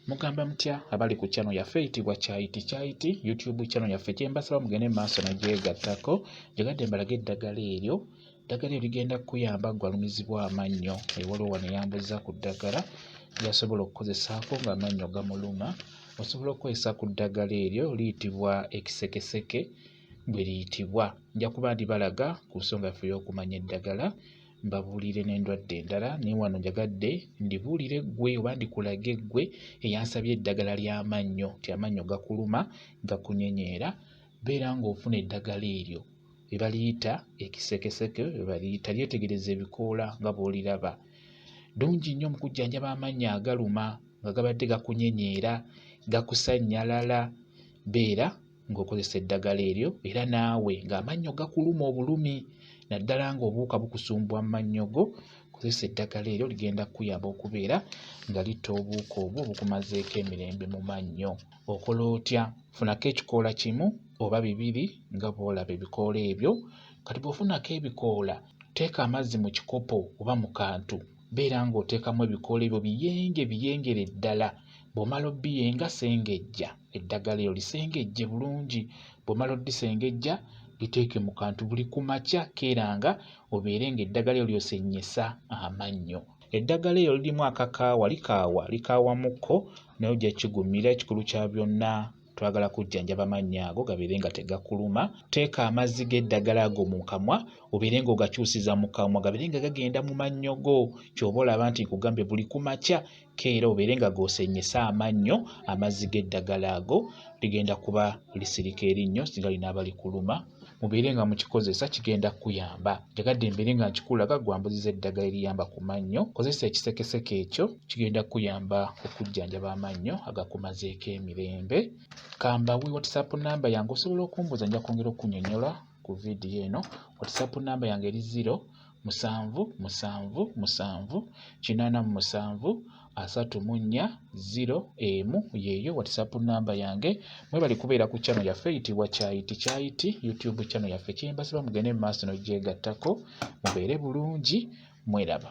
mugamba mutya abali ku channel yaffe eyitibwa kyayiti kyayiti youtube channel yaffe kyembasaba mugende mu maaso nagyegattako gyegadde mbalaga eddagala eryo eddagala eryo ligenda kukuyamba gwalumizibwa amannyo ewaliwo wano eyambuza ku ddagala lyasobola okukozesaako nga amannyo gamuluma osobola okukozesa ku ddagala eryo liyitibwa ekisekeseke bwe liyitibwa nja kuba ndibalaga ku nsonga yaffe ey'okumanya eddagala mbabuulire n'endwadde endala naye wano njagadde ndibuulire ggwe oba ndikulage ggwe eyansabye eddagala ly'amannyo nti amannyo gakuluma gakunyenyeera beera ng'ofuna eddagala eryo lye baliyita ekisekeseke lye baliyita lyetegereza ebikoola nga bw'oliraba ddungi nnyo mu kujjanjaba amannyo agaluma nga gabadde gakunyenyeera gakusannyalala beera ng'okozesa eddagala eryo era naawe ng'amannyo gakuluma obulumi naddala ng'obuwuka bukusumbuwa mu mannyo go kozesa eddagala eryo ligenda kukuyamba okubeera nga litta obuwuka obwo obukumazeeko emirembe mu mannyo okola otya funako ekikoola kimu oba bibiri nga bw'olaba ebikoola ebyo kati bw'ofunako ebikoola teeka amazzi mu kikopo oba mu kantu beera ng'oteekamu ebikoola ebyo biyenge biyengere ddala bw'omala obiyenga sengejja eddagala eryo lisengejje bulungi bw'omala odisengejja liteeke mu kantu buli ku makya keera nga obeere ng'eddagala eryo lyosennyesa amannyo eddagala eryo lirimu akakaawa likaawa likaawa mukko naye ojja kigumira ekikulu kya byonna twagala kujjanjaba amannya ago gabeere nga tegakuluma teeka amazzi g'eddagala ago mu kamwa obeere nga ogakyusiza mu kamwa gabeere nga gagenda mu mannyo go kyoba olaba nti nkugambye buli ku makya keera obeere nga goosenyese amannyo amazzi g'eddagala ago ligenda kuba lisirika erinnyo singa linaaba likuluma mubeere nga mukikozesa kigenda kukuyamba njagadde mbeere nga nkikulaga gwambuziza eddagala eriyamba ku mannyo kozesa ekisekeseke ekyo kigenda kukuyamba okujjanjaba amannyo agakumazeeko emirembe kambawe whatsapp namba yange osobola okumbuuza nja kwongera okunyonyola ku vidiyo eno whatsapp namba yange eri ziro musanvu musanvu musanvu kinaana mu musanvu asatu mu nnya ziro emu yeeyo whatsapp namba yange mwebali kubeera ku channel yaffe eyitibwa kyayiti kyayiti youtube channel yaffe kyembasaba mugende mu maaso nogyegattako mubeere bulungi mweraba